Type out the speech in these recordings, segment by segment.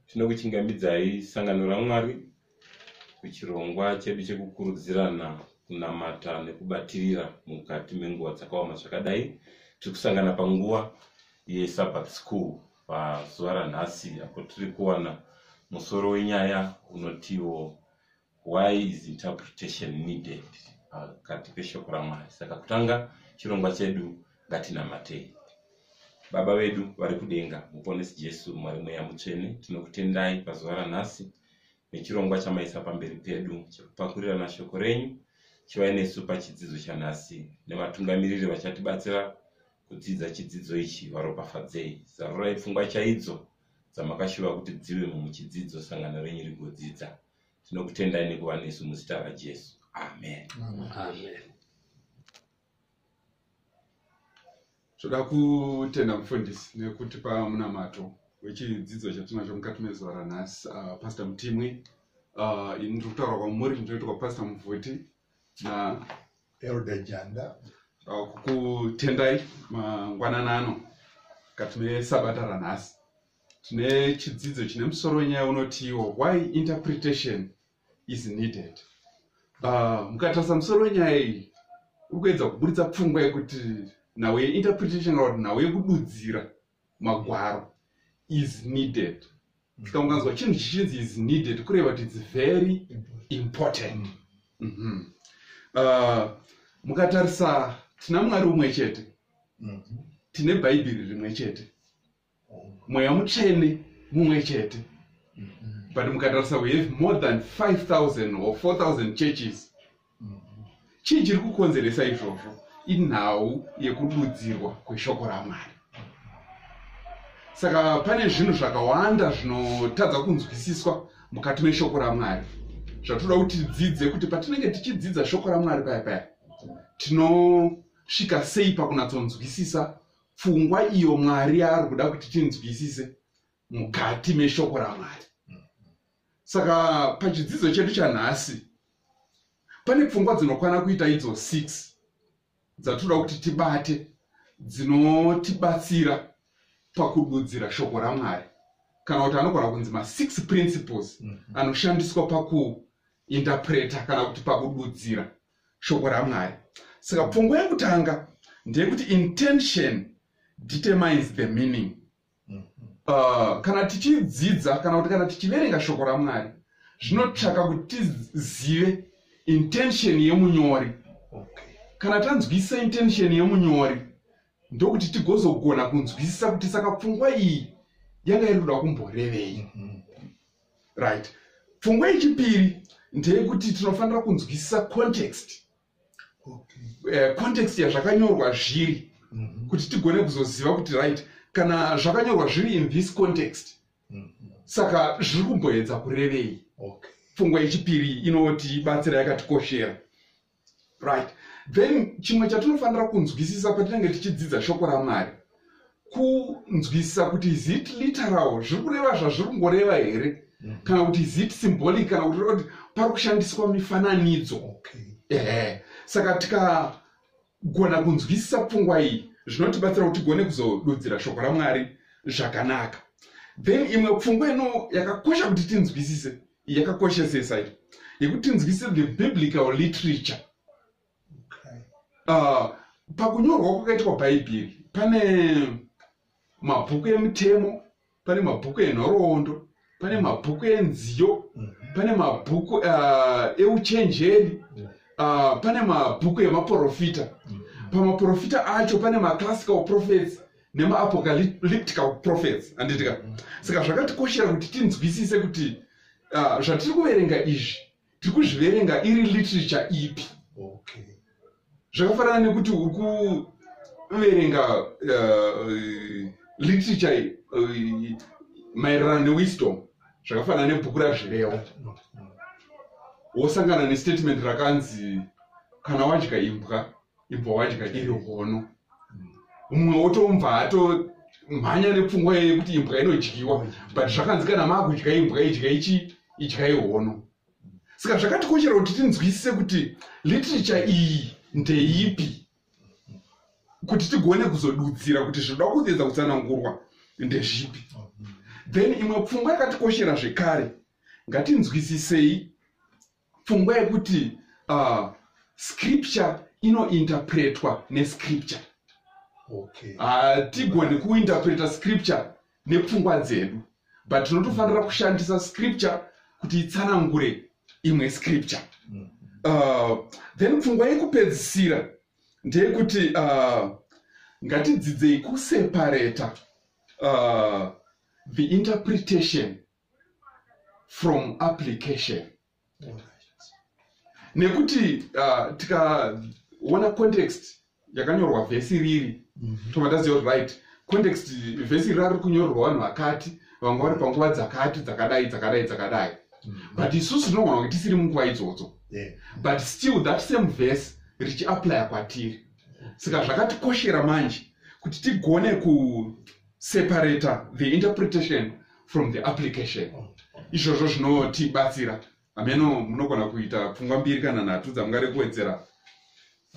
Tinokuchingamidzai sangano raMwari kuchirongwa chedu chekukurudzirana kunamata nekubatirira mukati menguva dzakaoma zvakadai tiri kusangana panguva yeSabbath School pazuva ranhasi apo tiri kuwana musoro wenyaya unotiwo why is interpretation needed pakati peshoko ramwari saka kutanga chirongwa chedu ngatinamatei baba vedu vari kudenga muponesi jesu mwari mweya mutsvene tinokutendai pazuva ranhasi nechirongwa chamaisa pamberi pedu chekupakurirana shoko renyu chivai nesu pachidzidzo chanhasi nevatungamiriri vachatibatsira kudzidza chidzidzo ichi varopafadzei zarurai pfungwa chaidzo dzamakashuva kuti dzive mumuchidzidzo sangano renyu rigodzidza tinokutendai nekuva nesu muzita rajesu amen, amen. amen. toda kutenda mufundisi nekutipa munamato wechidzidzo chatinacho mukati mezuva ranhasi uh, pastor mutimwi uh, ini ndiri kutaura kwamuri ndinoita kwapastor muvhuti na elder janda uh, kukutendai mangwanana ano mukati mesabata ranhasi tine chidzidzo chine musoro wenyaya unotiwo why interpretation is needed ah, mukatarisa musoro wenyaya iyi uri kuedza kuburitsa pfungwa yekuti nhau yeinterpretation kana kuti nhau yekududzira magwaro is needed saka mm. mukanzwa chinhu chichinzi is needed kureva kuti its very important mm -hmm. uh, mukatarisa tina mwari umwe chete mm -hmm. tine bhaibheri rimwe chete mweya mutsvene mumwe chete but mukatarisa we have more than 5000 or 4000 churches chii chiri kukonzeresa izvozvo inhau yekududzirwa kweshoko ramwari saka pane zvinhu zvakawanda zvinotadza kunzwisiswa mukati meshoko ramwari zvatoda kuti tidzidze kuti patinenge tichidzidza shoko ramwari paya paya tinosvika sei pakunatsonzwisisa pfungwa iyo mwari yaari kuda kuti tinzwisise mukati meshoko ramwari saka pachidzidzo chedu chanhasi pane pfungwa dzinokwana kuita idzo six dzatinoda kuti tibate dzinotibatsira pakududzira shoko ramwari kana kuti anogona kunzi masix principles mhm. anoshandiswa pakuinterpreta kana kuti pakududzira shoko ramwari saka pfungwa yekutanga ndeyekuti intention determines the meaning uh, kana tichidzidza kana kuti kana tichiverenga shoko ramwari zvinotsvaka kuti tizive intention yemunyori kana tanzwisisa intention yemunyori ndokuti tigozogona kunzwisisa kuti saka pfungwa iyi yanga iri kuda kumborevei mm -hmm. right pfungwa yechipiri ndeyekuti tinofanira kunzwisisa context okay. uh, context yazvakanyorwa zviri mm -hmm. kuti tigone kuzoziva kuti right kana zvakanyorwa zviri in this context mm -hmm. saka zviri kumboedza kurevei okay. pfungwa yechipiri inotibatsira yakatikoshera right then chimwe chatinofanira kunzwisisa patinenge tichidzidza shoko ramwari kunzwisisa kuti is it literal zviri kureva zvazviri kungoreva here mm. kana kuti is it symbolic kana kuti kuti pari kushandiswa mifananidzo ehe saka tikagona kunzwisisa pfungwa iyi zvinotibatsira kuti tigone kuzodudzira shoko ramwari zvakanaka then imwe pfungwa ino yakakosha kuti tinzwisise yakakoshesesa iyo yekuti tinzwise the biblical literature okay. uh, pakunyorwa kwakaitwa bhaibheri pane mabhuku emutemo pane mabhuku enhoroondo pane mabhuku enziyo mhm. pane mabhuku uh, euchenjeri uh, pane mabhuku emaprofita mhm. pamaprofita acho pane maclassical prophets nemaapocalyptical prophets anditika saka zvakatikoshera kuti tinzwisise kuti uh, zvatiri kuverenga izvi tiri kuzviverenga iri literature ipi okay. zvakafanana nekuti uri kuverenga uh, literature uh, maererano newisdom zvakafanana nebhuku razvirewa wosangana nestatement rakanzi kana wadya imbwa ibva wadya iri hono mumwe wotomva ato mhanya nepfungwa yeye kuti imbwa inodyiwa but zvakanzi kana maakudya imbwa idya ichi idya ihono saka zvakatikoshera kuti tinzwisise kuti literature iyi ndeipi kuti tigone kuzodudzira kuti zvinoda kuedza kutsanangurwa ndezvipi then imwe pfungwa yakatikoshera zvekare ngatinzwisisei pfungwa yekuti uh, scripture inointerpretwa nescripture okay. uh, tigoni kuinterpreta scripture nepfungwa dzedu but tinotofanira mm. kushandisa scripture kuti itsanangure imwe scripture mm. uh, then pfungwa yekupedzisira ndeyekuti uh, ngatidzidzei kusepareta uh, the interpretation from application nekuti uh, tikaona context yakanyorwa vhesi riri mm -hmm. tobva taziva kuti right context vhesi iri rari kunyorerwa vanhu vakati vanga vari panguva dzakati dzakadai dzakadai dzakadai mm. but isusu tinogona kunge tisiri munguva idzodzo but still that same vhesi richiaplya kwatiri saka zvakatikoshera manje kuti tigone separata the interpretation from the application izvozvo zvinotibatsira hameno munogona kuita pfungwa mbiri kana nhatu dzamungade kuwedzera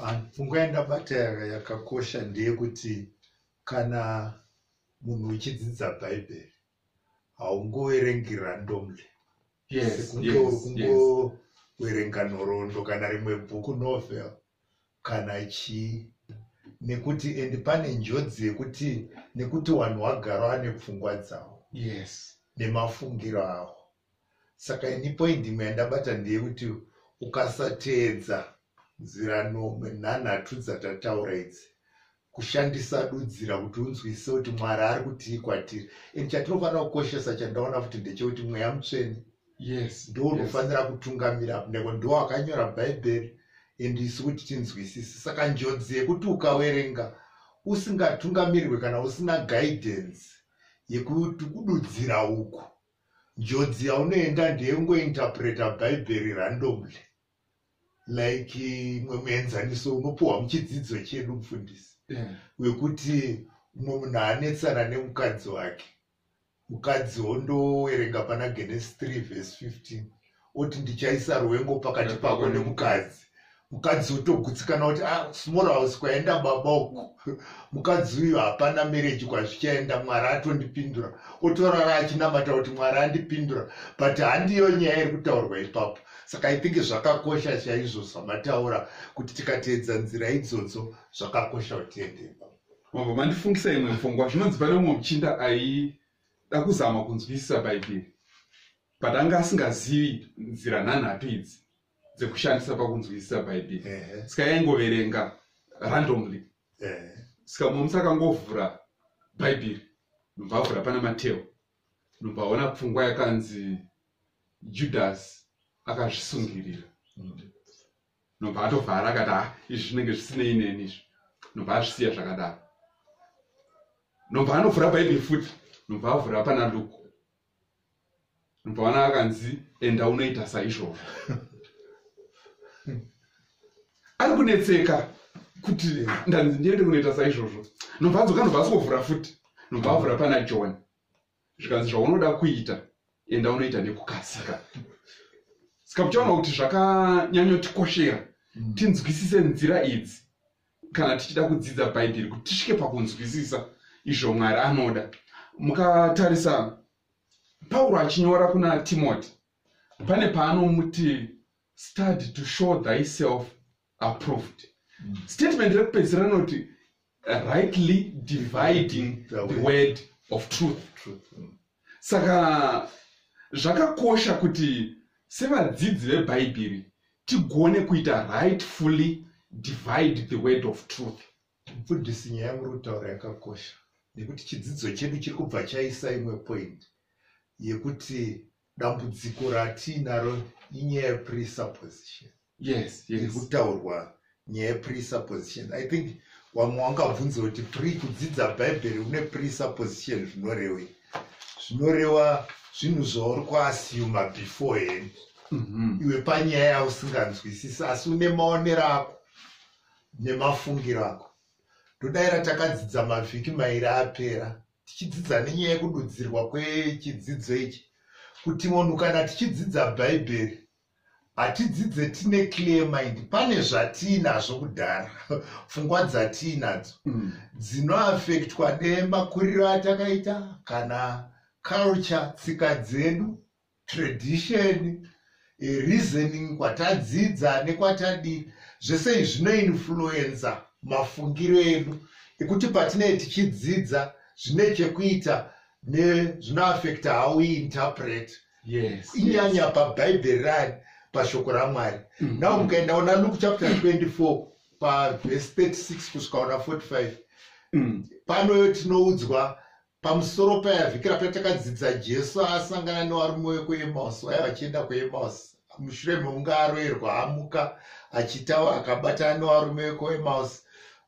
ah, pfungwa yandabata yakakosha ndeyekuti kana munhu uchidzidza bhaibheri haungoverengi randomly sekunge uri kungoverenga nhoroondo kana rimwe bhuku novel yes kana chii nekuti and pane njodzi yekuti nekuti wanhu wagaro ane pfungwa dzavo yes nemafungiro avo saka ini point imwe yandabata ndeyekuti ukasateedza nzira nomwe nhanhatu dzatataura idzi kushandisa dudzira kuti unzwisise kuti mwari ari kutii kwatiri and chatinofanira kukoshesa chandaona futi ndechekuti mweya mutsvene yes ndo unofanira yes. kutungamira neko ndo wakanyora bhaibheri and isu kuti tinzwisise saka njodzi yekuti ukawerenga usingatungamirwe kana usina guidance yekuti kududzira uku njodzi yaunoenda ndeyengointerpreta bhaibheri randomly like mwe muenzaniso unopiwa muchidzidzo chedu mufundisi yeah. wekuti mumwe munhu anetsana nemukadzi wake mukadzi wondowerenga pana genes 3 vhesi 15 oti ndichaisa rwengo pakati pako nemukadzi mukadzi otogutsikana kuti ah, small house kwaenda baba uku mukadzi uyu hapana mereji kwazvichaenda mwari atondipindura otorara achinamata kuti mwari andipindura but handiyo nyaya iri kutaurwa ipapo saka i think zvakakosha chaizvo zvamataura kuti tikateedza nzira idzodzo zvakakosha kutiendeko mabva mandifungisa imwe pfungwa zvinonzi pane umwe muchinda aida kuzama kunzwisisa bhaibheri but anga asingazivi nzira nhanhatu idzi dzekushandisa pakunzwisisa bhaibheri saka yaingoverenga randomly saka mumsi akangovhura bhaibheri ndobva avhura pana mateo ndobva aona pfungwa yakanzi judhasi akazvisungirira ndobva atovhara akati ha ah, izvi zvinenge zvisinei neni izvi ndobva azvisiya zvakadaro ndobva anovhura bhaibheri futi ndobva avhura pana luku ndobva ana akanzi enda unoita saizvozvo ari kunetseka kuti ndanzi ndiende kunoita saizvozvo nobva adzoka nobva asikovhura futi nobva avhura pana john zvikanzi zvaunoda kuita enda unoita nekukasika saka muchaona kuti zvakanyanyotikoshera mm. tinzwisise nzira idzi kana tichida kudzidza bhaibheri kuti tisvike pakunzwisisa izvo mwari anoda mukatarisa pauro achinyora kuna timoti pane paanomuti study to show thyself approved mm. statement rekupedzisira rinoti rightly dividing the word of truth mm. saka zvakakosha kuti sevadzidzi vebhaibheri tigone kuita rightfully divide the word of truth Mufundisi nyaya yamuri kutaura yakakosha nekuti chidzidzo chedu chiri kubva chaisa imwe point yekuti dambudziko ratiinaro inyaya yepresupposition yes iri kutaurwa nyaya yepresupposition i think wamwe wangabvunza kuti pre kudzidza bhaibheri une presupposition zvinorewei zvinorewa zvinhu zvauri kuasiyuma before hand mhm. iwe panyaya yausinganzwisisi asi une maonero ako nemafungiro ako ndodaira takadzidza mavhiki mairi apera tichidzidza nenyaya yekududzirwa kwechidzidzo ichi kuti munhu kana tichidzidza bhaibheri hatidzidze tine clear mind pane zvatiinazvo kudhara pfungwa dzatiinadzo mm. dzinoafektwa nemakuriro atakaita kana culture tsika dzedu tradition eh, reasoning kwatadzidza nekwatadii zvese izvi zvinoinfluenza mafungiro edu ekuti patinee tichidzidza zvine chekuita nezvinoafekta how we interpret yes, inyanya yes. pabhaibheri rani pashoko ramwari mm -hmm. now mukaenda ona luke chapter 24 pavhesi 36 kusvika ona 45 mm. panoyo tinoudzwa pamusoro payavhikira patakadzidza jesu asangana nevarume vekuemausi vaya vachienda kuemausi mushure mekunge aroerwa amuka achitaura akabatana nevarume vekuemausi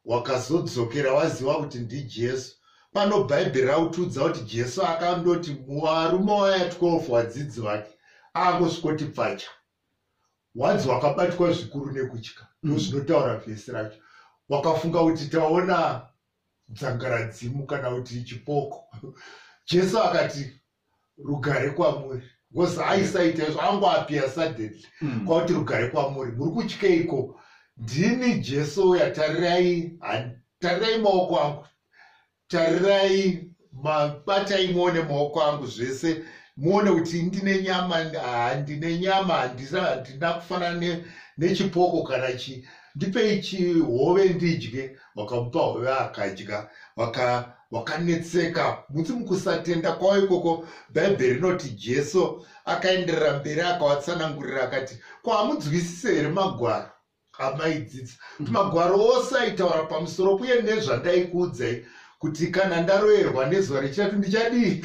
wakazodzokera waziva kuti ndijesu pano bhaibheri rakutiudza kuti jesu akandoti muvarume waya 12 vadzidzi vake akusvikoti pfacha wanzi wakabatwa zvikuru nekutya ndozvinotaura vhesi racho wakafunga kuti taona dzangaradzimu kana kuti chipoko jesu akati rugare kwamuri because aisaita izvo angoapia suddenly mm. kwakuti rugare kwamuri muri kutyeiko ndini jesu uya tarirai tarirai maoko angu tarirai mabatai muone maoko angu zvese muone kuti ndine nyama handine nyama handina kufanana nechipoko kana chii ndipei chihove ndidye vakamupa hove akadya vakanetseka waka muti mukusatenda kwavo ikoko bhaibheri rinoti jesu akaenderera mberi akavatsanangurira akati ko hamudzwisise here magwaro amaidzidza kuti magwaro ose aitaura pamusoro uye nezvandaikuudzai kuti kana ndaroyerwa nezuva rechitatu ndichadii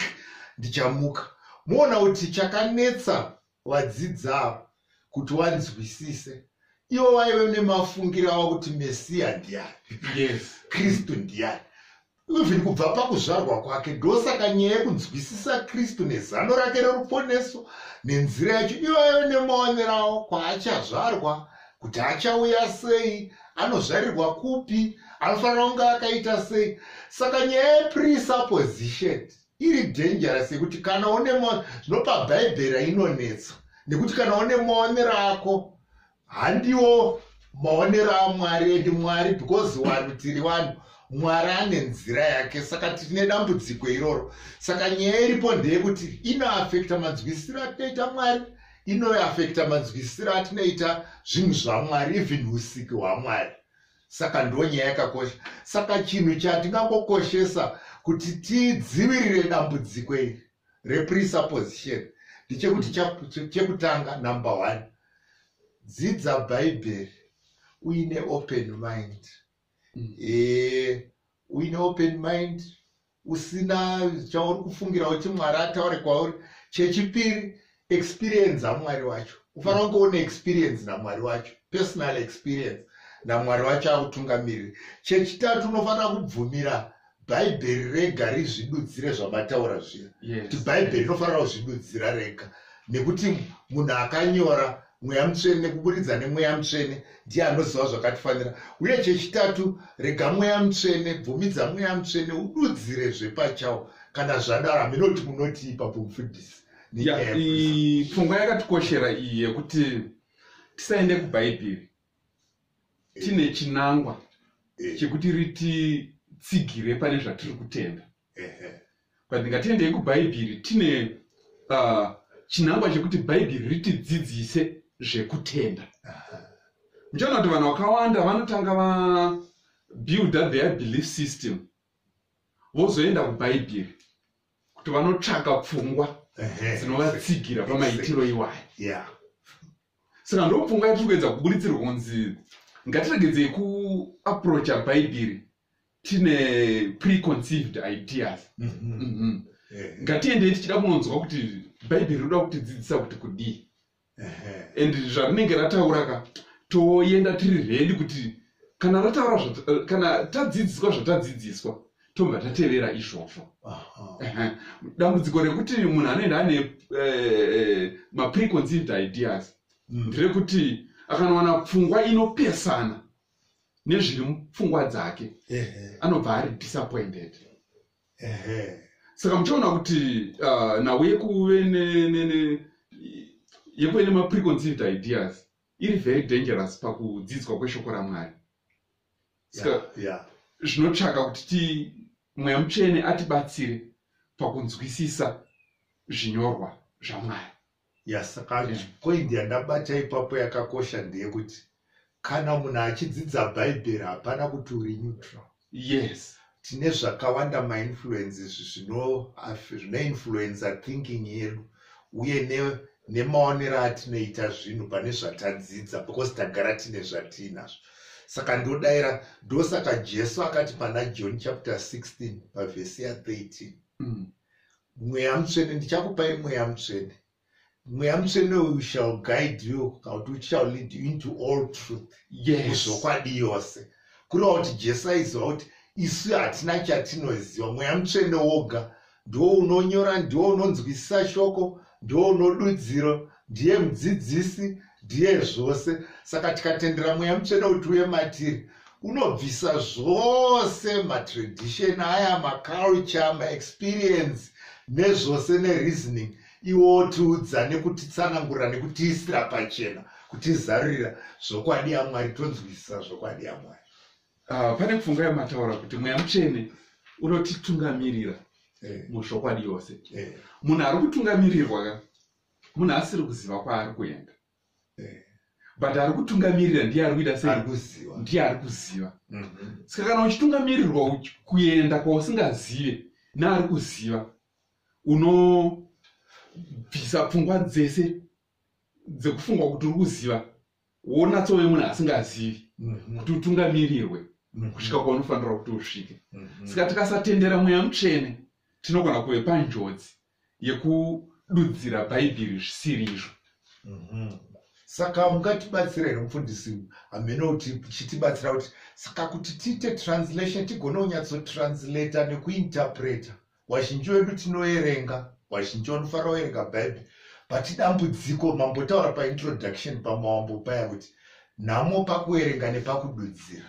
ndichamuka moona kuti chakanetsa wadzidzawo kuti wanzwisise iwo waive nemafungira avo kuti mesiya ndiyani yes kristu ndiyani even kubva pakuzvarwa kwake ndosaka nyaya yekunzwisisa kristu nezano rake reruponeso nenzira yacho ivo vaive nemaonero avo kwaachazvarwa kuti achauya sei anozvarirwa kupi anofanira kunge akaita sei saka nyaya yepresupposition iri dangerous yekuti kana une zvinopa bhaibheri inonetsa nekuti kana une maonero ako handiwo maonero amwari endi mwari because vanhu tiri vanhu mwari ane nzira yake saka tine dambudziko iroro saka nyaya iripo ndeyekuti inoafekta manzwisiro atinoita mwari inoafekta manzwisiro atinoita zvinhu zvamwari even usiki hwamwari saka ndo nyaya yakakosha saka chinhu chatingangokoshesa kuti tidzivirire dambudziko iri represupposition ndichekuti chekutanga number one dzidza bhaibheri uine open mind mm. e, uine open mind usina chauri kufungira kuti mwari ataure kwauri chechipiri experience amwari wacho ufanira kunge une experience namwari wacho personal experience namwari wacho akutungamiriri chechitatu unofanira kubvumira bhaibheri rega rizvidudzire zvamataura zviya kuti bhaibheri rinofanira kuzvidudzira rega nekuti munhu akanyora mweya mutsvene nekuburidza nemweya mutsvene ndiye anoziva zvakatifanira uye chechitatu rega mweya mutsvene bvumidza mweya mutsvene ududzire zvepachawo kana zvadaro hameno kuti munoti ipapo mufundisi pfungwa yakatikoshera iyi yekuti tisaende kubhaibheri tine chinangwa chekuti rititsigire pane zvatiri kutenda but ndingatiendei kubhaibhiri tine uh, chinangwa chekuti bhaibhiri ritidzidzise zvekutenda muchaona kuti vanhu vakawanda vanotanga vabuilda their belief system vozoenda kubhaibhiri kuti vanotsvaka pfungwa dzinovatsigira pamaitiro iwayo saka ndopfungwa yatiri kuedza kuburitsirwa kunzi ngatiregedzei kuaprocha bhaibhiri tine preconceived ideas mm -hmm. Mm -hmm. Yeah. ngatiendei tichida kunonzwa kuti bhaibheri rinoda kutidzidzisa kuti kudii and zvarinenge rataura ka toenda tiri redi kuti kana rataura kana tadzidziswa zvatadzidziswa tobva tatevera izvozvo dambudziko rekuti munhu anoenda ane eh, mapreconceived ideas mm. nderekuti akanowana pfungwa inopesana nezviri mupfungwa dzake anobva ari disappointed saka muchiona kuti uh, nhau yekuve yekuve nemapreconceived ideas iri very dangerous pakudzidzwa kweshoko ramwari saka zvinotsvaka kuti ti mweya mutsvene atibatsire pakunzwisisa zvinyorwa zvamwari yasaka yeah. point yandabata ipapo yakakosha ndeyekuti kana munhu achidzidza bhaibheri hapana kuti uri neutral yes tine zvakawanda mainfluence izvi zvinoinfluencer thinking yedu uye nemaonero atinoita zvinhu pane zvatadzidza because tagara tine zvatiinazvo saka ndodaira ndosaka jesu akati pana john chapter 16 pavhesi ya 13 mm. mweya mutsvene ndichakupai mweya mutsvene mweya mutsvene uyu shall guide you kana kuti uchishall lead you into all truth yezokwadi yes. yose kureva kuti jesu aiziva kuti isu hatina chatinoziva mweya mutsvene woga ndiwo unonyora ndiwo unonzwisisa shoko ndiwo unodudziro ndiye mudzidzisi ndiye zvose saka tikatendera mweya mutsvene kuti uye matiri unobvisa zvose matradition aya maculture maexperience nezvose nereasoning iwo otiudza nekutitsanangurira nekutiisira pachena kutizarurira zvokwadi yamwari tonzwisisa zvokwadi yamwari uh, pane pfungwa yamataura kuti mweya mutsvene unotitungamirira eh. muzvokwadi yose eh. munhu ari kutungamirirwa ka munhu asiri kuziva kwaari kuenda eh. but ari kutungamirira ndiye ari kuita sei ndiye ari kuziva mhm. saka kana uchitungamirirwa kuenda kwausingazive naari kuziva unobvisa pfungwa dzese dzekufungwa kuti uri kuziva wonatsove munhu asingazivi mhm. kuti utungamirirwe mhm. kusvika kwaunofanira kuti usvike saka tikasatendera mweya mutsvene tinogona kuve panjodzi yekududzira bhaibheri zvisiri izvo mhm. saka mungatibatsira here mufundisi hameno kuti chitibatsira kuti saka kuti tiite translation tigone kunyatsotranslata nekuinterpreta wazhinji wedu tinoerenga wazhinji wanofanira kuerenga bhaibheri but dambudziko mambotaura paintroduction pamawambo paya kuti nhamo pakuerenga nepakududzira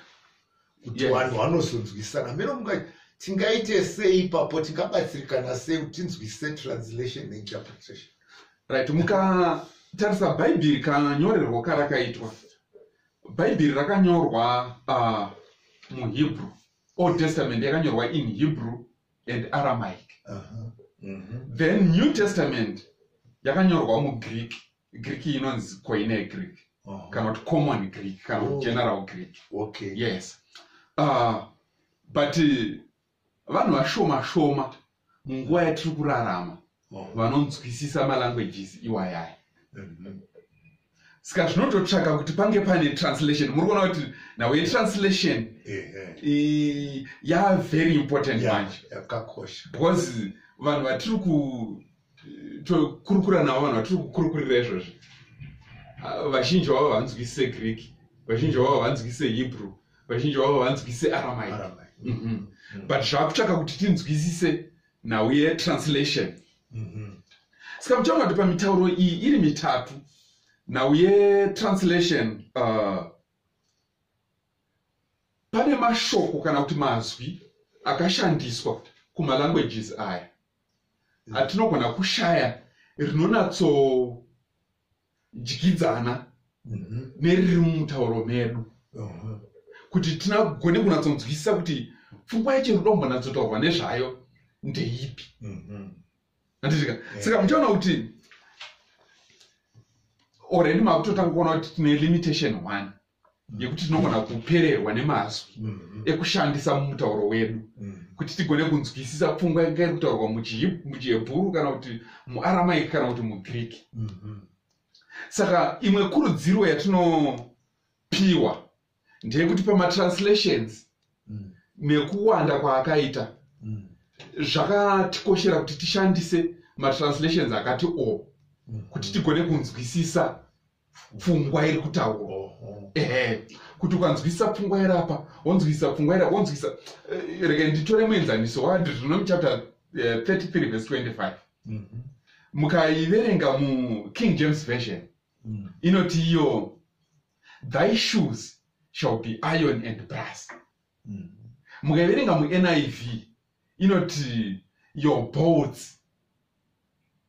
kuti Yes. vanhu vanozonzwisana hameno munga tingaite sei ipapo tingabatsirikana sei kuti tinzwisise translation neinterpretation right mukatarisa bhaibheri kanyorerwo karakaitwa bhaibheri rakanyorwa uh, muhebrew old testament yakanyorwa in hebrew and aramaic Aha. Mhm. then new testament yakanyorwa mugreek greek inonzi koine greek uh-huh. kana kuti common greek kana kuti oh. general greek okay yes uh, but uh, vanhu vashoma shoma munguva yatiri kurarama oh. vanonzwisisa malanguages iwayaya mm-hmm. saka zvinototsvaka kuti pange pane translation muri kuona kuti nawe translation yave very important manje because vanhu vatiri ku tokurukura navo vanhu vatiri kukurukurira izvozvi vazhinji vavo havanzwise greek vazhinji vavo havanzwise hebrew vazhinji vavo havanzwise aramai mhm. but zvaakutsvaka kuti tinzwisise nhau yetranslation mhm. saka muchaona kuti pamitauro iyi iri mitatu nhau yetranslation uh, pane mashoko kana kuti mazwi akashandiswa kumalanguages aya atinogona kushaya rinonatsodyidzana mhm. neriri mumutauro medu uh-huh. kuti tinagone kunatsonzwisisa kuti pfungwa yacho inodombonatsotaurwa nezvayo ndeipi mhm. anditika saka muchaona kuti already makutotanga kuona kuti tine limitation one yekuti tinogona kupererwa nemazwi mm-hmm. ekushandisa mumutauro wedu mm-hmm. kuti tigone kunzwisisa pfungwa yanga iri kutaurwa muchihebhuru kana kuti muaramaiki kana kuti mugreek mm-hmm. saka imwe kurudziro yatinopiwa ndeyekuti pamatranslations mm. nekuwanda kwaakaita mm. zvakatikoshera kuti tishandise matranslations akati o mm. kuti tigone kunzwisisa pfungwa iri kutaurwa ehe kuti ukanzwisisa pfungwa iri apa wonzwisisa pfungwa iri wonzwisisa eh, rega nditore muenzaniso wadi zvino muchapter 33 eh, vhesi 25 mhm. mukaiverenga muking james version mm. inoti iyo thy shoes shall be iron and brass mm. mukaiverenga muniv inoti your boats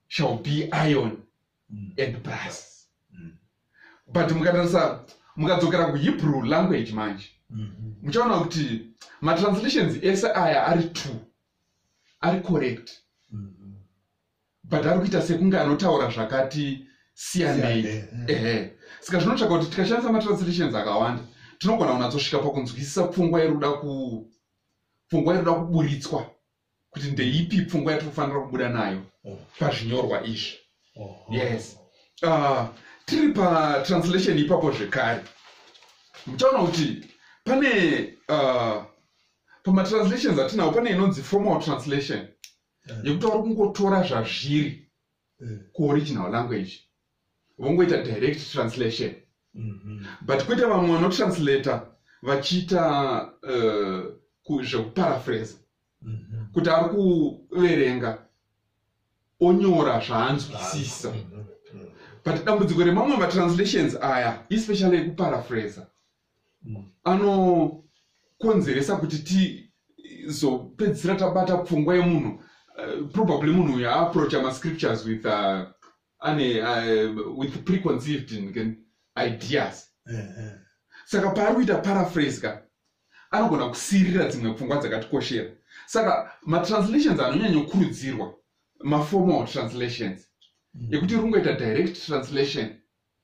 shall be iron mm. and plus mm. but mukatarisa mukadzokera kuhebrew language manje mm-hmm. muchaona mm -hmm. kuti matranslations ese aya ari two ari correct mm -hmm. but ari kuita sekunge anotaura zvakati siyanei eh. ehe saka zvinotsvaka kuti tikashandisa matranslations akawanda tinogona kunatsosvika pakunzwisisa pfungwa iri kuda ku pfungwa iri kuda kuburitswa kuti ndeipi pfungwa yatiri kufanira kubuda nayo oh. pazvinyorwa izvi oh. yes uh, tiri patranslation ipapo zvekare muchaona kuti pane uh, pamatranslations atinawo pane inonzi formal translation eh. yekuti vari kungotora zvazviri eh. kuoriginal language vongoita direct translation mm -hmm. but kwete vamwe vanotranslata vachiita uh, zvekuparaphrase mm -hmm. kuti ari kuverenga onyora zvaanzwisisa mm -hmm. but dambudziko remamwe matranslations aya especially ekuparaphrasa mm. anokonzeresa kuti tizopedzisira tabata pfungwa yemunhu uh, probably munhu uyo aaproacha mascriptures with uh, ane uh, with preconceived ideas eh, eh. saka paari kuita paraphrase ka anogona kusiirira dzimwe pfungwa dzakatikoshera saka matranslations anonyanyokurudzirwa maformal translations mm. ekuti rungoita direct translation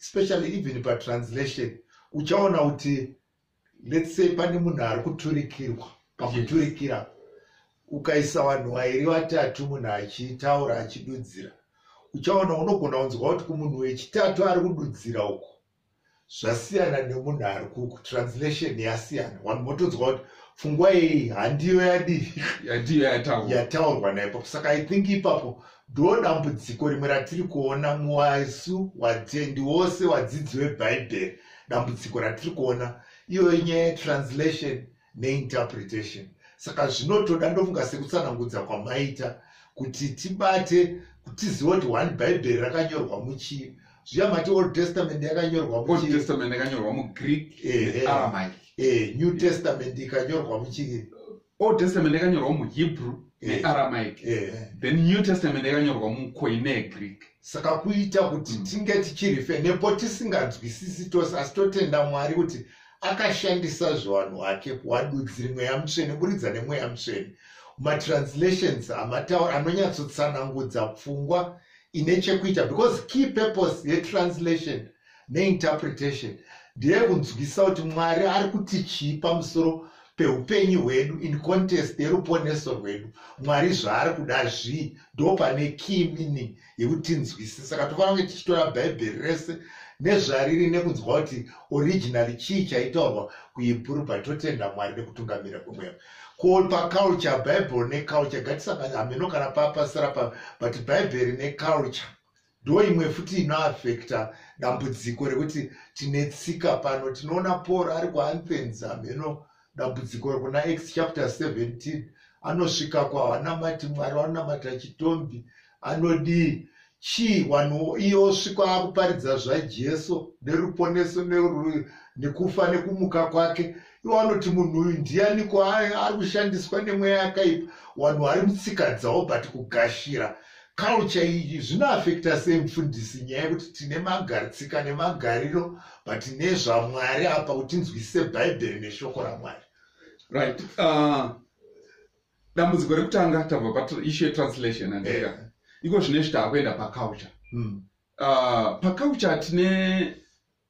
especially even patranslation uchaona kuti let's say pane munhu ari kuturikirwa pakuturikira ukaisa vanhu vairi vatatu munhu achitaura achidudzira uchaona unogona kunzwa kuti kumunhu wechitatu ari kududzira uko zvasiyana nemunhu ari kuku translation yasiyana vanhu votonzwa kuti pfungwa iyi handiyo yadii yandiyo yataurwa yataurwa naipapo saka i think ipapo ndodambudziko rimwe ratiri kuona muwasu watendi wose wadzidzi webhaibheri dambudziko ratiri kuona iyoyo nyaya yetranslation neinterpretation saka zvinotoda ndofunga sekutsanangudza kwamaita kuti tibate tiziva kuti one bhaibheri rakanyorwa muchii zviya mati old testament yakanyorwa muchiitestament yakanyorwa mugreek aramaic eh, new testament ikanyorwa muchii old testament yakanyorwa muhebrew nearamaic then new testament yakanyorwa mukoine egreek saka kuita kuti mm. tinge tichirife nepo tisinganzwisisi tose asi totenda mwari kuti akashandisa zvevanhu vake kuvadudziri mweya mutsvene buridza nemweya mutsvene matranslations amataura anonyatsotsanangudza pfungwa ine chekuita because key purpose yetranslation neinterpretation ndeye kunzwisa kuti mwari ari kuti chii pamusoro peupenyu hwedu in contest yeruponeso rwedu mwari zvaari kuda zvii ndo pane key meaning yekuti tinzwise saka tofanira kunge tichitora bhaibheri rese nezvariri nekunzwa kuti originali chii chaitaurwa kuhebhuru but totenda mwari nekutungamira kwemweya ko paculture bhaibheri neculture gatisangani hameno kana papasira pa but bhaibheri neculture ndo imwe futi inoafekta dambudziko rekuti tine tsika pano tinoona paul ari kuanthens hameno dambudziko rekuna x chapter 17 anosvika kwavanamati mwari vanonamata chitombi anodii chii vanhu iye osvika akuparidza zvajesu neruponeso nekufa nekumuka kwake iwo anoti munhu uyu ndiyaniko ari kushandiswa nemweya yakaipa vanhu vari mutsika dzavo but kugashira culture iyi zvinoafekta sei mufundisi nyaya yekuti tine magaritsika nemagariro but nezvamwari apa kuti nzwisise bhaibheri neshoko ramwari right uh, dambudziko rekutanga tabva paishu yetranslation andika yeah. iko zvine zvita akuenda paculture mm. uh, paculture tine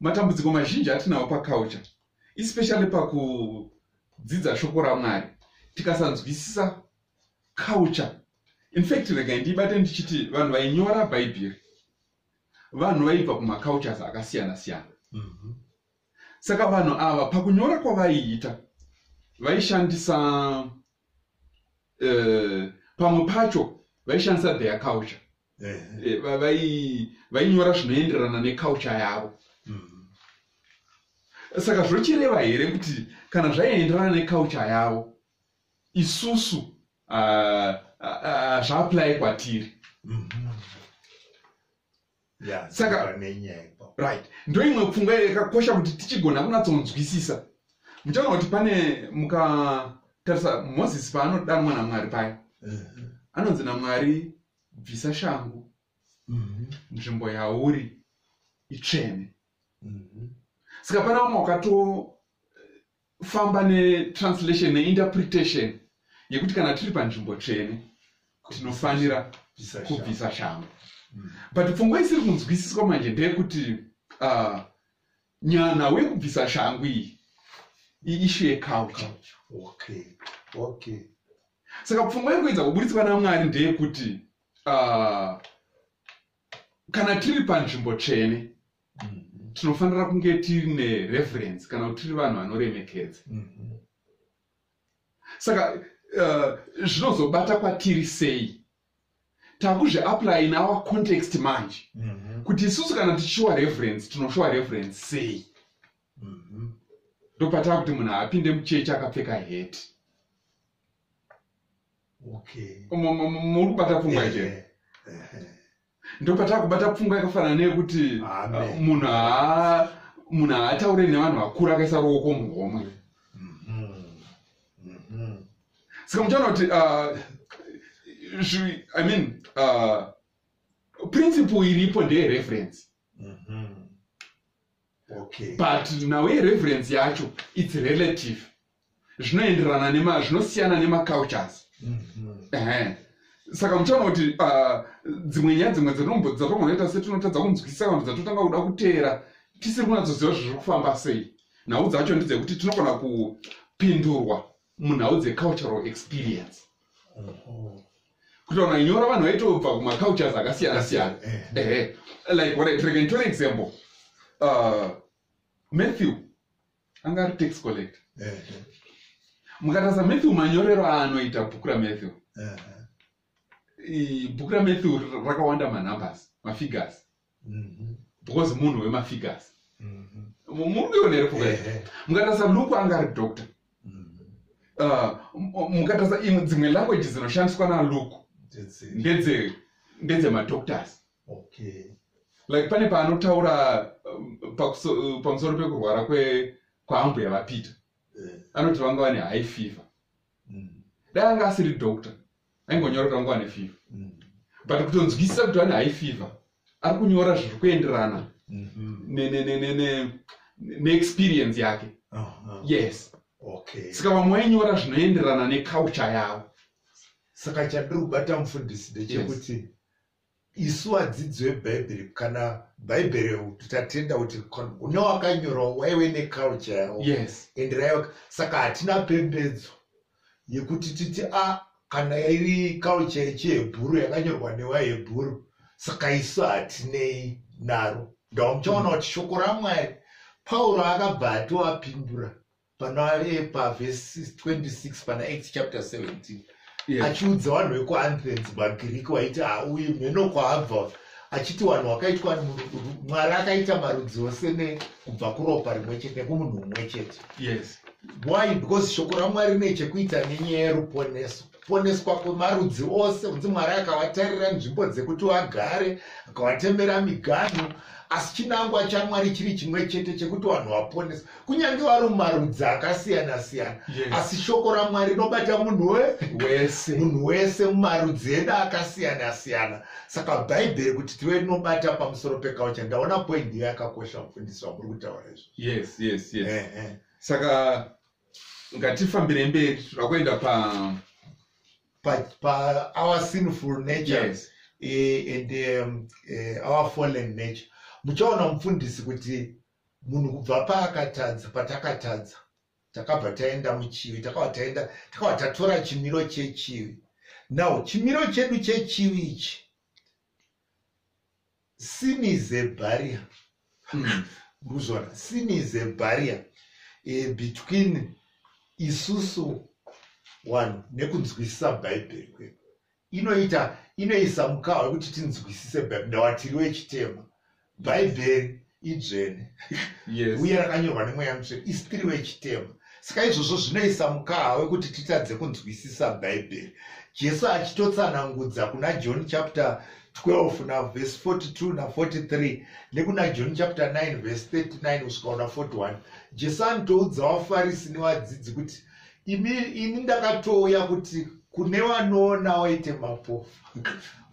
matambudziko mazhinji atinawo paculture especially pakudzidza shoko ramwari tikasanzwisisa culture infact regai ndibate ndichiti vanhu vainyora bhaibheri vanhu vaibva kumacultures akasiyana siyana mhm. saka vanhu ava pakunyora kwavaiita vaishandisa eh, pamwe pacho vaishandisa their culture eh, vainyora zvinoenderana neculture yavo mhm. saka zvochireva here kuti kana zvaienderana neculture yavo isusu hazviapply uh, uh, kwatiri mm -hmm. yeah, saka right ndoimwe pfungwa yakakosha kuti tichigona kunatsonzwisisa muchaona kuti pane mukatarisa moses paanodanwa namwari paya mm-hmm. anonzi namwari bvisa shangu mm-hmm. nzvimbo yauri itsvene mm-hmm. saka pana vamwe wakato kufamba netranslation neinterpretation yekuti kana tiri panzvimbo tsvene tinofanira kubvisa shambo mm. but pfungwa isiri kunzwisiswa manje ndeyekuti uh, nyana wekubvisa shangu iyi iishu yeculture okay. okay. saka pfungwa yekuedza kuburitswa namwari ndeyekuti uh, kana tiri panzvimbo tsvene mm-hmm. tinofanira kunge tiri nereference kana kuti tiri vanhu vanoremekedza mm-hmm. saka uh, zvinozobata uh, kwatiri sei takuzviapply in our context manje mm -hmm. kuti isusu kana tichishuwa reference tinoshuwa reference sei mm -hmm. ndopatava kuti munhu apinde muchechi akapfeka heti muri kubata pfungwa iche ndopatava kubata pfungwa yakafanana neyekuti uh, munhu munhu haataure nevanhu vakuru akaisa ruoko muhomwe mm-hmm. mm-hmm. saka muchaona kuti uh, i mean uh, principle iripo ndeye reference mm-hmm. okay. but nawe reference yacho its relative zvinoenderana nema zvinosiyana nemacultures ehe saka muchaona kuti ah, dzimwe nyaya dzimwe dzatombo- dzatombonoita setinotadza kunzwisisa kana kuti dzatotanga kuda kuteera tisiri kunatsoziva zviri kufamba sei nhau dzacho ndedzekuti tinogona kupindurwa munhau dzecultural experience kutaura nyora vanhu vaitobva kumacultures akasiyana siyana ehe like what I- like, nditore example uh, matthew anga ari tax collector mukatarisa matthew manyorero aanoita bhuku ramatthew bhuku ramatthew rakawanda manumbers mafigures mhm. because munhu wemafigures mhm. murikuionere pfuka mukatarisa luku anga ari doctor mhm. uh, mukatarisa imwe dzimwe language dzinoshandiswa naluku ndedzemadoctors okay like pane paanotaura um, uh, pamusoro pekurwara kwe kwaambuya vapita yeah. anoti vanga vane high fever mm. dai anga asiri doctor aingonyora kanga vane fever mm. but kutonzwisisa kuti vane high fever ari kunyora zviri kuenderana mm-hmm. neexperience yake uh-huh. yes okay. saka vamwe vainyora zvinoenderana neculture yavo saka chadiri kubata mufundisi ndechekuti yes isu vadzidzi vebhaibheri kana bhaibheri kuti tatenda kuti une wakanyorawo waive neculture yawo yes. and raiva saka hatina pembedzo yekuti titi a ah, kana iri culture yechihebhuru yakanyorwa newahebhuru saka isu hatinei naro ndamuchaona kuti shoko ramwari pauro akabva atoapindura panoepa vhesi 26 pana act chapter 17 yes. achiudza vanhu vekuanthens magiriki waiti auyi mheno kwaabva achiti vanhu wakaitwa mwari akaita marudzi ose nekubva kuropa rimwe chete nekumunhu umwe chete yes why because shoko ramwari rine chekuita nenyaya yeruponeso kuponeswa kwemarudzi ose kunzi mwari akawatarira nzvimbo dzekuti wagare akawatemera miganhu asi chinangwa chamwari chiri chimwe chete chekuti vanhu vaponesa kunyange vari mumarudzi akasiyana siyana yes. asi shoko ramwari rinobata munhu wese munhu wese mumarudzi edu akasiyana siyana saka bhaibheri kuti tive rinobata pamusoro pekaucha ndaona poindi yakakosha mufundisi wamuri kutaura izvo yes, yes, yes. Eh, eh. saka ngatifambire mberi tinoda kuenda pa pa pa our sinful nature yes. uh, and um, uh, our fallen nature muchaona mufundisi kuti munhu kubva paakatadza patakatadza takabva taenda muchivi takabva taenda takabva tatora chimiro chechivi now chimiro chedu chechivi ichi sin is a barrier hmm. muzvona sin is a barrier e, between isusu wanhu nekunzwisisa bhaibheri kwedu inoita inoisa mukawa wekuti tinzwisise bhaibheri ndawatiri wechitema bhaibheri idzvene yes. uye rakanyorwa nemweya mutsvene isi tiri vechitema saka izvozvo zvinoisa mukaha wekuti titadze kunzwisisa bhaibheri jesu achitotsanangudza kuna john chapter 12 navhesi 42 na43 nekuna john chapter 9 vhesi 39 kusvika una 41 jesu anotoudza vafarisi nevadzidzi kuti ini ini ndakatouya kuti kune vanoona waite mapofu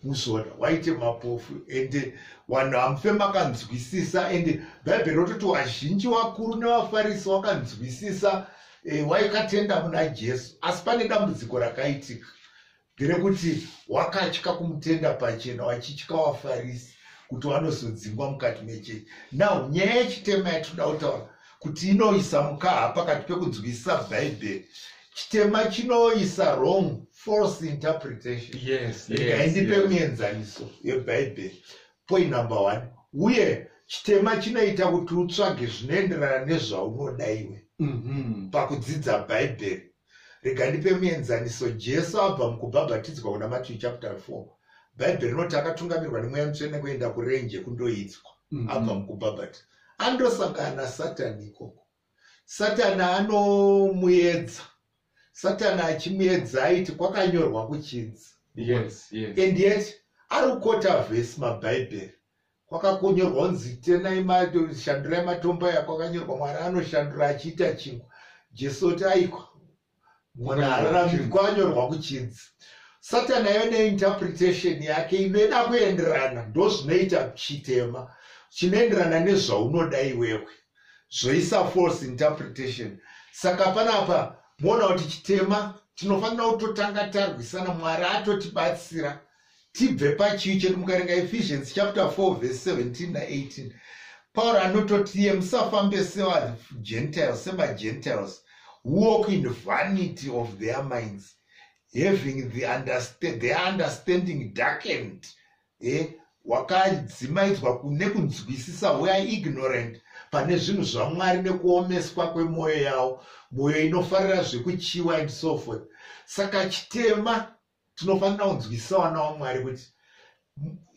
muzoona waite mapofu ende vanhu hamufe makanzwisisa ende bhaibheri rototi vazhinji vakuru nevafarisi wakanzwisisa e, eh, waikatenda muna jesu asi pane dambudziko rakaitika Nderekuti wakatya kumutenda pachena wachitya wafarisi kuti wanozodzingwa mukati mechechi. Now nyaya yechitema yatinoda kutaura kuti inoisa mukaha pakati pekunzwisisa Bhaibheri chitema chinoisa wrong false interpretation ngaindipe muenzaniso yebhaibheri point number one uye chitema chinoita kuti utsvage zvinoenderana nezvaunoda iwe mhm. pakudzidza bhaibheri rega ndipe muenzaniso jesu abva mukubhabhatidzwa kuna matthew chapter 4 bhaibheri rinoti akatungamirwa nemweya mutsvene kuenda kurenje kundoidzwa mm-hmm. abva mukubhabhati andosangana nasatani ikoko satani anomuedza satani achimuedza aiti kwakanyorwa kuchinzi yes, yes. and yet ari kukota vhesi mabhaibheri kwakakonyorwa kunzi tenai shandurai matombo aya kwakanyorwa mwari anoshandura achiita chingwa jesu oti aikwa mwana ararami kwanyorwa kuchidzi satan ayo neinterpretation yake inoida kuenderana ndozvinoita chitema chinoenderana nezvaunoda iwewe zvoisa false interpretation saka panapa moona kuti chitema tinofanira kutotanga tarwisana mwari atotibatsira tibve pachivi chedu mukarenga ephesians chapter 4 verse 17 na18 pauro anototi iye musafambe sevagentiles semagentiles walk in vanity of their minds having the understand, their understanding darkened eh? wakadzimaidzwa kune kunzwisisa weare ignorant pane zvinhu zvamwari nekuomeswa kwemwoyo yavo mwoyo inofarira zvekuchiwa and so forth saka chitema tinofanira kunzwisisa vana wamwari kuti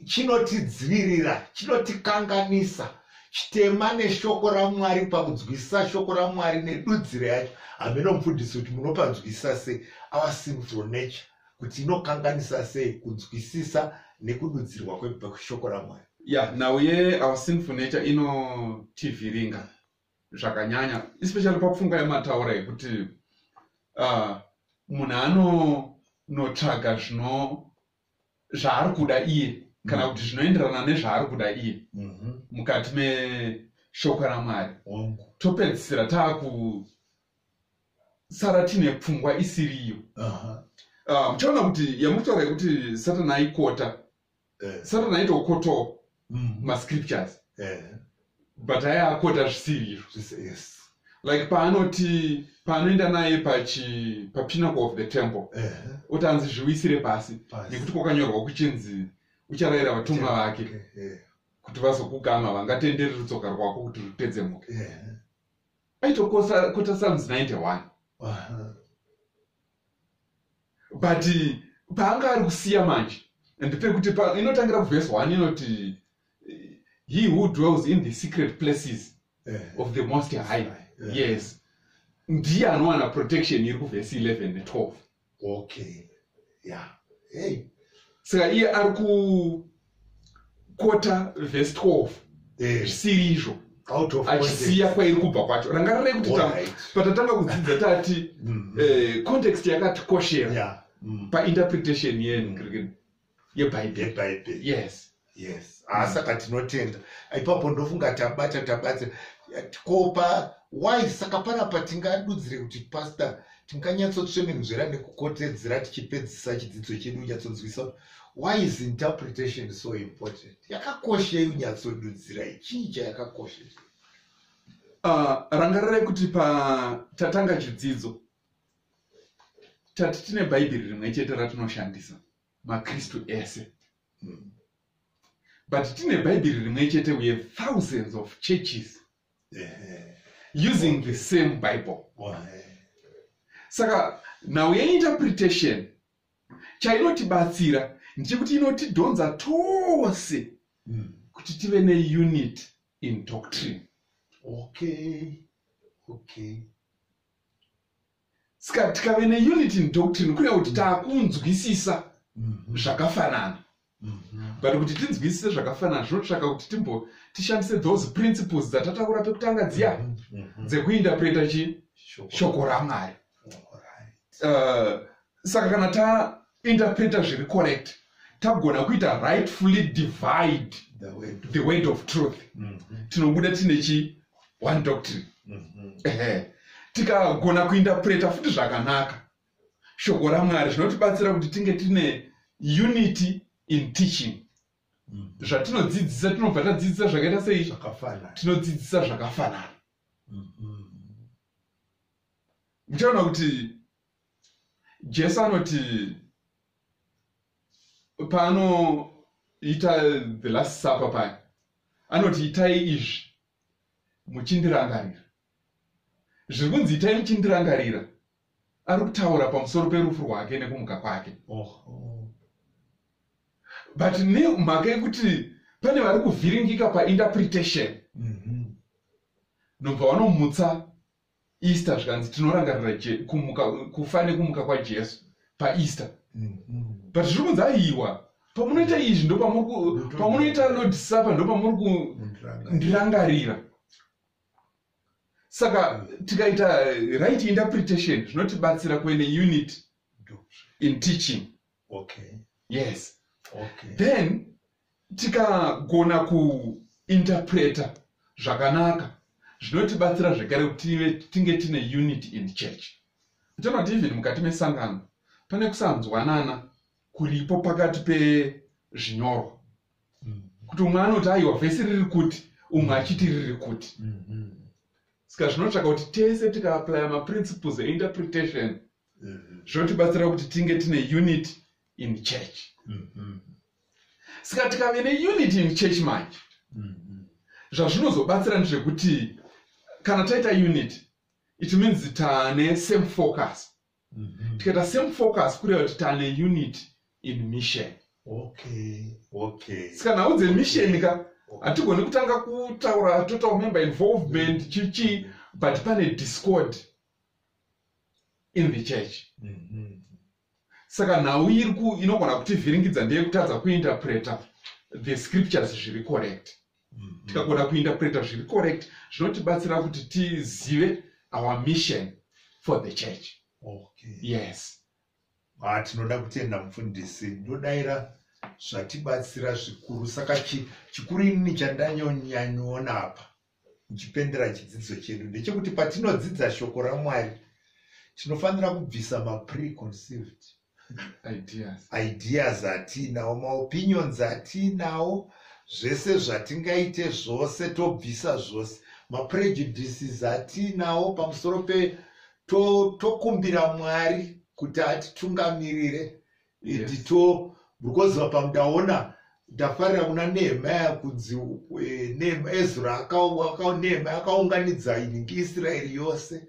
chinotidzivirira chinotikanganisa chitema neshoko ramwari pakunzwisisa shoko ramwari nedudziro yacho hameno mufundisi kuti munopanzwisisa sei our sinful nature kuti inokanganisa sei kunzwisisa nekududzirwa kweshoko ramwari ya nhau ye our sinful nature inotivhiringa zvakanyanya especially papfungwa yemataura yekuti uh, munhu anonotsvaga zvino zvaari kuda iye kana mm. kuti zvinoenderana nezvaari kuda iye mm-hmm. mukati meshoko ramwari topedzisira taakusara tiine pfungwa isiriyo uh-huh. ah, muchaona kuti yamutaura yekuti satani aikota Eh. satan aitokotoa Mm. mascriptures Eh. but aya akota zvisiri izvo Zvise- yes. like paanoti paanoenda naye pachi papinacle of the temple Eh. oti anzi zviwisire pasi Pasi. nekuti kwakanyorwa kuchinzi ucharayira vatumwa vake Eh. kuti vazokugama vangatenderi rutsoka rwako kuti rutedzemuke Eh. aitokota psalms 91 Aha. but paanga ari kusiya manje and pekuti inotangira kuvhesi one inoti he who dwells in the secret places eh. of the most high eh. yes ndiye anowana protection iri kuvhesi 11 ne12 okay yeah hey saka iye ari ku kota vhesi 12 eh. zvisiri izvo achisiya kwairi kubva kwacho rangarirei kuti patatanga kudzidza tati mm-hmm. eh, context yakatikoshera mm. painterpretation yebhaibheri yes yes ah, mm. saka tinotenda ipapo ndofunga tabata tabata kopa why saka panapa tingadudzire kuti pastor tinganyatsotsvemenuzvera nekukotedzera tichipedzisa chidzidzo chedu nyatsonzwisa why is interpretation so important yakakoshei unyatsodudzira ichii chayakakosha uh, rangarirai kuti patatanga chidzidzo tati tine bhaibheri rimwe chete ratinoshandisa makristu ese mm. but tine bhaibheri rimwe chete we have thousands of churches yeah. using the same bible saka now yeinterpretation chainotibatsira ndechekuti inotidhonza tose hmm. kuti tive neunit in doctrine okay okay ska tikave neunit in doctrine kureva kuti takunzwisisa mhm. zvakafanana Mhm. but kuti tinzwisise zvakafanana zvinotsvaka kuti timbo tishandise those principles dzatataura pekutanga dziya mhm, mhm. dzekuindapreta chi shoko ramwari uh, saka kana taindapreta zviri correct tagona kuita rightfully divide the word of truth tinobuda tine chi one doctrine tikagona kuindapreta futi zvakanaka shoko ramwari zvinotibatsira kuti tinge tine unity in teaching mm. zvatinodzidzisa tinobva tadzidzisa zvakaita sei tinodzidzisa zvakafanana mm-hmm. muchaona kuti jesu anoti paanoita the last supper paya anoti itai izvi muchindirangarira zviri kunzi itai muchindirangarira ari kutaura pamusoro perufu rwake nekumuka kwake oh, oh. but nemhaka yekuti pane vari kuvhiringika painterpretation mhm. nobva vanomutsa easter zvikanzi tinorangarira kufa nekumuka kwajesu paeaster mhm. but zviri kunzi aiwa pamunoita izvi ndopamunoita lord supper ndopamuri kundirangarira saka tikaita right interpretation zvinotibatsira kuene unit in teaching okay. yes okay. then tikagona kuinterpreta zvakanaka zvinotibatsira zvekare kuti tinge tine unity in church tonoti even mukati mesangano pane kusanzwanana kuripo pakati pezvinyorwa kuti umwe anoti aiwa vhesi riri kuti umwe achiti riri kuti mm-hmm. saka zvinotsvaka kuti tese tikaaplya maprinciples einterpretation mm-hmm. zvotibatsira kuti tinge tine unit in church mm-hmm. saka tikave neunit in church manje zvazvinozobatsira ndezvekuti kana taita unit it means tane same focus Mhm. tikaita same focus kureva kuti tane unit in mission okay okay saka nhau dzemission ka hatigoni kutanga kutaura total member involvement chichii but pane discord in the church Mhm. saka nhau iri ku inogona kutivhiringidza ndeyekutadza kuinterpreta the scriptures zviri correct mm-hmm. tikagona kuinterpreta zviri correct zvinotibatsira kuti tizive our mission for the church okay. yes ah, tinoda kutenda mufundisi ndodaira zvatibatsira zvikuru saka chikuru inini chandanyonyanyoona apa ndichipendera chidzidzo chedu ndechekuti patinodzidza shoko ramwari tinofanira kubvisa mapreconceived ideas ideas atinawo maopinions atinawo zvese zvatingaite zvose tobvisa zvose maprejudices atinawo pamusoro pe tokumbira to mwari kuti atitungamirire yes. to because apa ndaona ndafarira kuna nehemaya kunzi eh, ezra nehemaya akaunganidza inenge israeri yose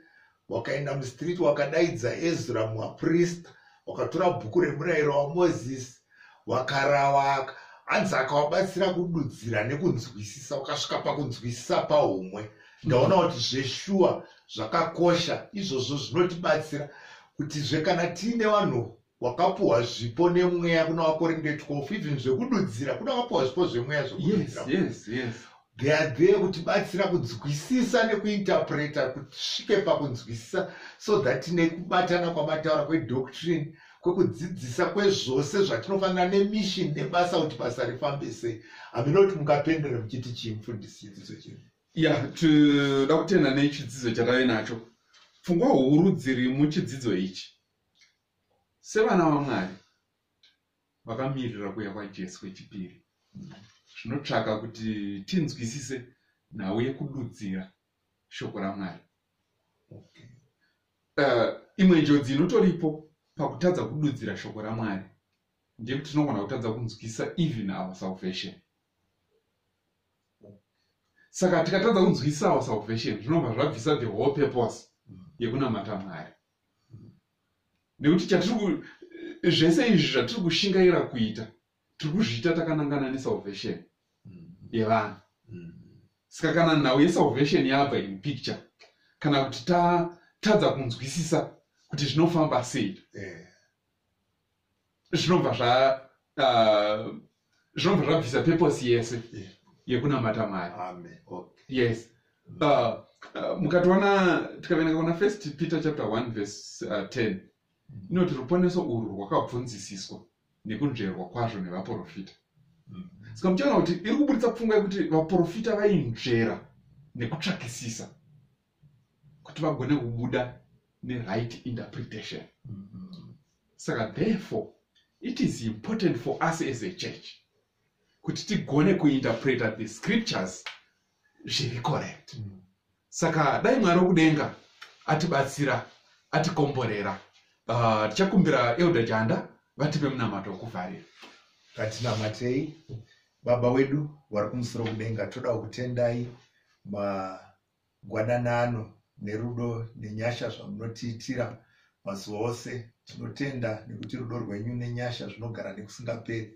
wakaenda mustreet wakadaidza ezra muaprista wakatora bhuku remurayiro wamozisi wakarawaka hanzi akawabatsira kududzira nekunzwisisa ukasvika pakunzwisisa paumwe ndaona kuti zveshuwa zvakakosha izvozvo zvinotibatsira kutizve kana tiine vanhu wakapuhwa zvipo nemweya kuna vakorinde 12 even zvekududzira kuna wakapuhwa zvipo zvemweya zvekududzira yes, yes, yes. they are there kutibatsira kunzwisisa nekuinterpreta kusvike pakunzwisisa so that nekubatana kwamataura kwedoctrine kwekudzidzisa kwezvose zvatinofanira nemission nebasa kuti basa rifambe sei hamina kuti mukapendera muchiti chii mufundisi chidzidzo chino ya tinoda kutenda nechidzidzo chatave nacho pfungwa huru dziri muchidzidzo ichi sevana vamwari vakamirira kuya kwajesu kwechipiri zvinotsvaka kuti tinzwisise nhau yekududzira shoko ramwari okay. uh, imwe njodzi inotoripo pakutadza kududzira shoko ramwari ndeyekuti tinogona kutadza kunzwisisa even our salvation saka tikatadza kunzwisisa our salvation zvinobva zvabvisa the whole purpose mm. yekunamata mwari nekuti chatiri zvese izvi zvatiri kushingaira kuita tiri kuzviita takanangana nesalvation yevanhu saka kana nhau yesalvation yabva in picture kana kuti tatadza kunzwisisa kuti zvinofamba sei eh. zvinobva zva uh, zvinobva zvabvisa purpose yese yekunamata mwari yes uh, uh, mukatoona tikaverenga kuna first peter chapter 1 verse uh, 10 inoti ruponeso urwu rwakabvunzisiswa nekunzverwa kwazvo nevaprofita mm. saka muchaona kuti iri kuburitsa pfungwa yekuti vaprofita vainzvera nekutsvakisisa kuti vagone kubuda neright interpretation mm -hmm. saka therefore it is important for us as a church kuti tigone kuinterpreta the scriptures zviri correct mm -hmm. saka dai mwari wokudenga atibatsira atikomborera ah, tichakumbira uh, elder janda vatipe munamato wokuvharira katinamatei baba wedu vari kumusoro kudenga toda kutendai ma gwadanano nerudo nenyasha zvamunotiitira mazuva ose tinotenda nekuti rudo rwenyu nenyasha zvinogara nekusingaperi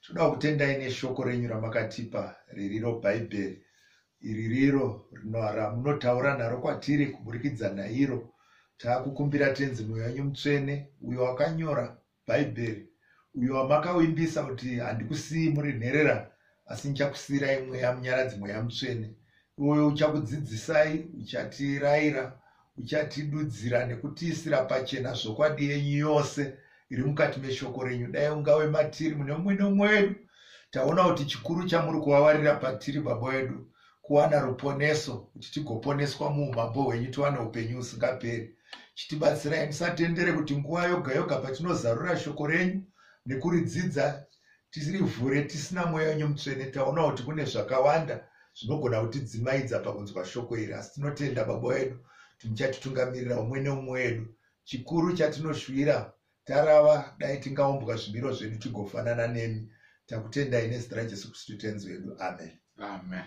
tinoda kutendai neshoko renyu ramakatipa ririro bhaibheri iri riro ramunotaura naro kwatiri kuburikidza nairo taakukumbira tenzi mweya wenyu mutsvene uyo wakanyora bhaibheri uyo wamakawimbisa kuti handikusiyi muri nherera asi ndichakusiyirai mweya munyaradzi mweya mutsvene iwoyo uchakudzidzisai uchatiraira uchatidudzira nekutiisira pachena zvokwadi yenyu yose iri mukati meshoko renyu dai ungave matiri mune mumwe nomwe wedu taona kuti chikuru chamuri kuvavarira patiri baba wedu kuwana ruponeso kuti tigoponeswa muumambo hwenyu tiwane upenyu usingaperi chitibatsirai musatendere kuti nguva yoga yoga patinozarura shoko renyu nekuridzidza tirivhure tisina mweya wenyu mutsvene taona kuti kune zvakawanda zvinogona kutidzimaidza pakunzwa shoko iri asi tinotenda baba wedu kuti muchatitungamirira umwe neumwe wedu chikuru chatinoshuvira tarava dai tingaumbwa zvimiro zvedu tigofanana nemi takutendai nezita rajesu kristu tenzi wedu amen amen